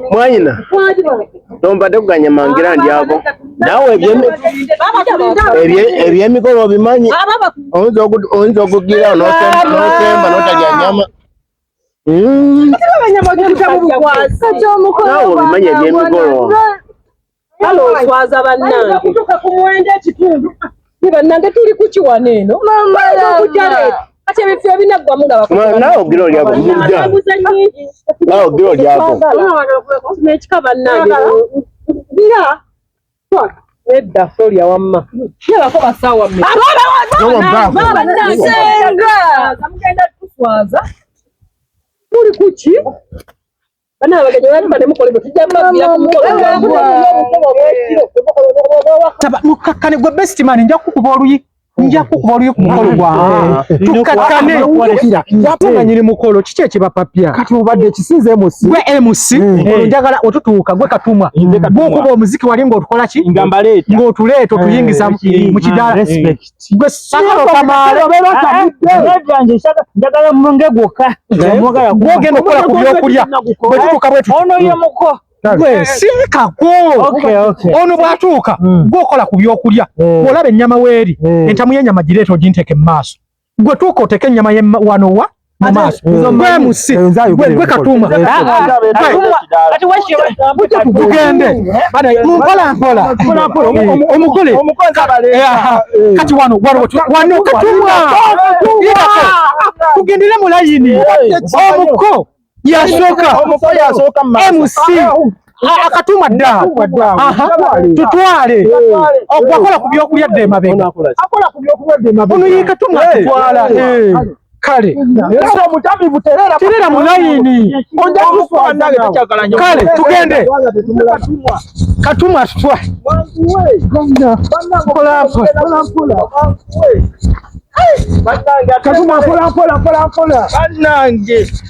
mwanyina tombadde kuganya mangira ndi ako nawe ebyemikolo obimanyi oyinza okugira nosemba notalya nyama hmm. nawe obimanyi ebyemikolo Kale oswaza bannange. Okutuuka ku mwenda ekitundu. Ni bannange tuli ku kiwana eno. Mama lava. Kati ebifo ebinaggwamu nga bakuba. Nawe ogira olyako. Nawe ogira olyako. N'ekika bannange. Bira. Nedda solya wamma. Yabako basaawa mmeka. Abaana baana. Baaba nange. Mugenda tuswaza. Muli ku ki? bana abaganya bali bane mukole bwe tujja mbabira ku mukolo taba mukakkane gwe best man nja kukuba oluyi nja kukuba oluyi ku mukolo gwa tukakkane watunga nyiri mukolo kiki ekibapapya kati obadde ekisinze emusi gwe emusi njagala otutuuka gwe katumwa gwokuba omuziki wali ng'otukola ki ng'otuleeta otuyingiza mu kidaala njagala munge gwokka gwogenda okukola ku byokulya bwetutuka bwetuono ye muko siikako ono bwatuuka hmm. gwokola ku byokulya hmm. olaba ennyama weeri hmm. entamu y'ennyama gireeta oginteke mu maaso gwe tuuka oteeke ennyama wano wa gwe katuma tugende mumpola mpola omugole kati wano wano katumwa tugendere mu layini omuko yasooka MC akatuma dda tutwale okwakola ku byokulya dda emabega ono yekatuma tutwala kale terera mu layini kale tugende katuma tutwale katuma mpola mpola mpola mpola banange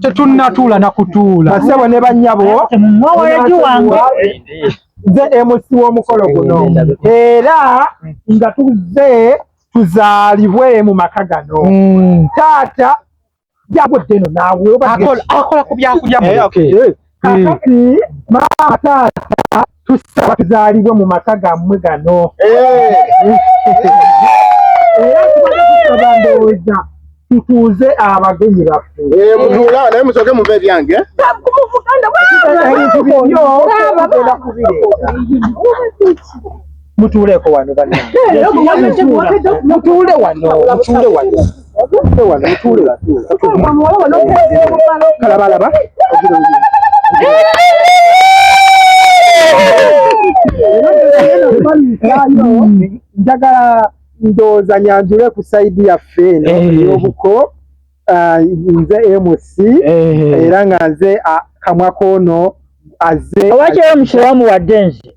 tetunnatuula na kutuula. Basebo ne bannyabo, nze MC w'omukolo guno era nga tuzze tuzaalibwe mu maka gano hmm. taata yagudde no naawe akola ku byakulya eh, eh. kakati maama taata tusaba tuzaalibwe mu maka gammwe gano era tubadde tusaba ndowooza tutuuze abagenyi baffe eh, mutuula naye musoke muva ebyange mutuuleko wano banange mutuule wano mutuule wano mutuule wano mutuule wano kalabalaba njagala ndowooza nyanjule ku saidi yaffe eno eh. yobuko ah, nze mc eh. era nga nze ah, kamwa koono aze owakyera mukiramu wadde nze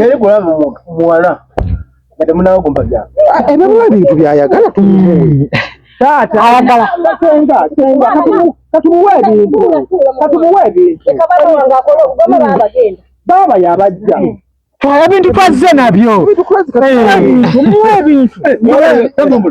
Yali kulaba muwala nga temunawo kumpaja. Ebimuwa ebintu byayagala tumuwe. Hmm. Taata ayagala senga senga katumuwe ebintu katumuwe ebintu. Hmm. Baba yabajja. Hmm. Ebintu twazze nabyo. Ebintu twazze nabyo. Ebintu.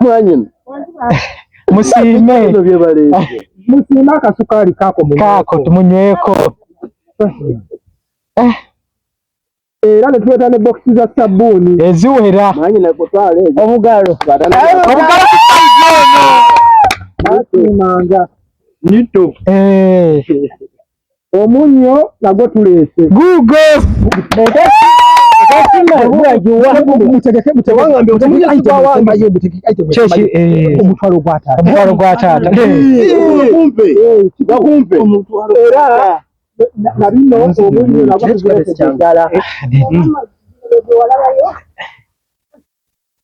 mwanyina musiime musiime akasukaali kaako kaako tumunyweko eh. era ne tuleeta ne bokisi za sabbuuni eziwera mwanyina kutwala ezo obugalo obugalo kusaizoono nasiimanga nito eh. Omunyo nagwo tuleese. Guugo. Omutwalo gwa taata. Omutwalo gwa taata. Era na bino omunyo nagwo tuleese ddala.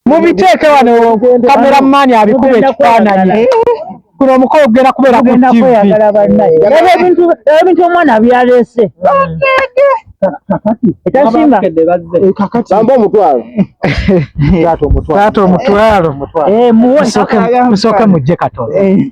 mubiteeke wano kamera maani abikuba ekifaananyi eh? kuno omukolo ogenda kubeera ku tv ebintu omwana byalese ekyasinga bamba omutwalo taata omutwalo musooke mujje katono eh.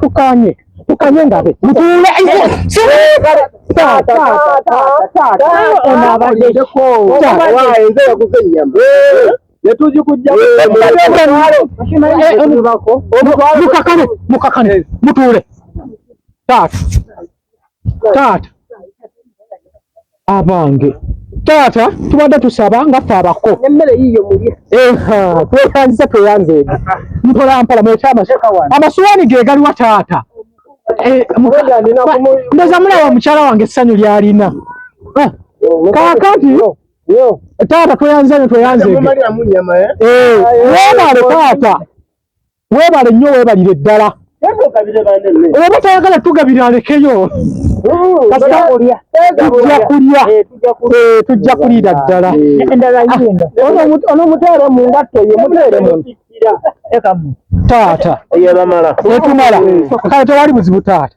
tukanye tukanye ngabe mutule mukakane mukakane mutule taata taata abange taata tubadde tusaba nga ffe abako emmere yiyo mulye eha tweyanziza tweyanzeege mpola mpola mwekyama amasuwaani ge galiwa taata eh, ndoza mulaba mukyala wange essanyu lyalina eh, kakati taata tweyanziza nyo tweyanzeege eh, webale taata Webale nnyo webalire ddala. Oba tayagala tugabira alekeyo. Kasita tujja kulya. Eh, eh, tujja kulira ddala. Ah, ono muteere mu ngatto ye muteere mu. Taata. Etumala. Kale tewali buzibu taata.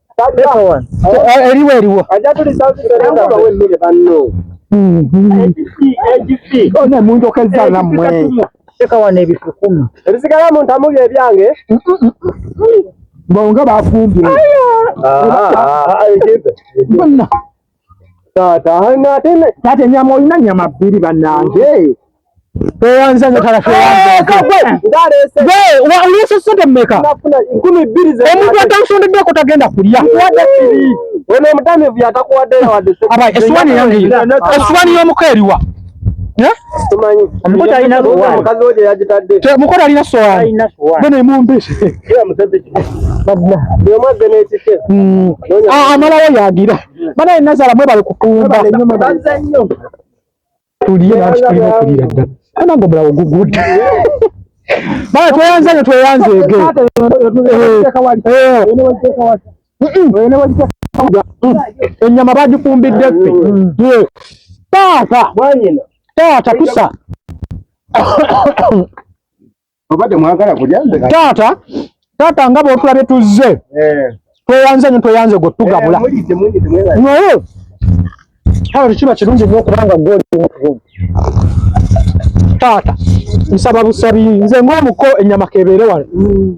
eriwo eriwo munjokezza nammwe teka wano ebifukumi ebisigala mu ntamu bye byange bonga bafumbye Taata hana ate ne taata nyama olina nyama bbiri banange. Toyanza nyo taata toyanza. Kakwe ndale se. Gwe wa ulese sente mmeka? Nafuna nkumi bbiri ze. Omuntu atansondedde ko tagenda kulya. Wada bbiri. Ono omutamivu yatakuwadde yawadde. Aba eswani yange. Eswani y'omuko eriwa? Omukozi alina omukozi alina sowaani bano emumbese amalawo yagira banaye nazala mwebale kukumba tuliye nanti tulina okulira ddala anange omulawo gugudde bana tweyanze ne tweyanzeege ennyama bagifumbidde ffe taata taata kusa taata taata nga bwotulabye tuzze eh. tweyanze nyo tweyanze gwe tugabula eh, naye kale tekiba kirungi nyo okubanga goli taata nsaba busabi nze ngaomuko ennyama kebeere wano mm.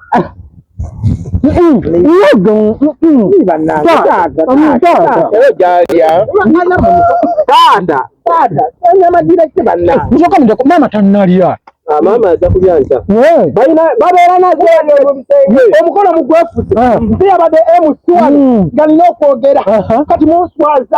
maama tanalya maama ajja kulya nkya babeera nazo omukono mugwefuse nze yabadde emusuwali nga nina okwogera kati munswaza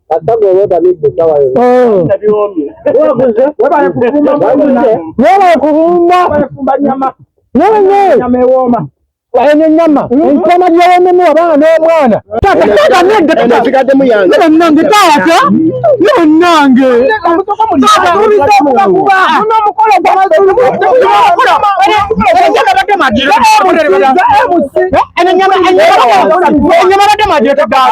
eno enyama enkoma gyewememu abaana n'omwana taataataanegataasigademu yange nange taata nanange enyama badde majetegaa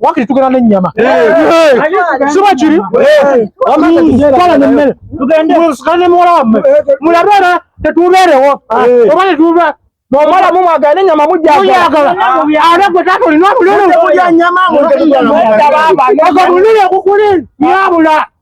wakiri tugenda n'ennyama siba kiri kala nemmere tugendemusika ne muwala wamme mulabe era tetubeerewo oba netuba nomala mumwagala nenyama mujagala ate gwe taata olina obululu obululu okukuli nyabula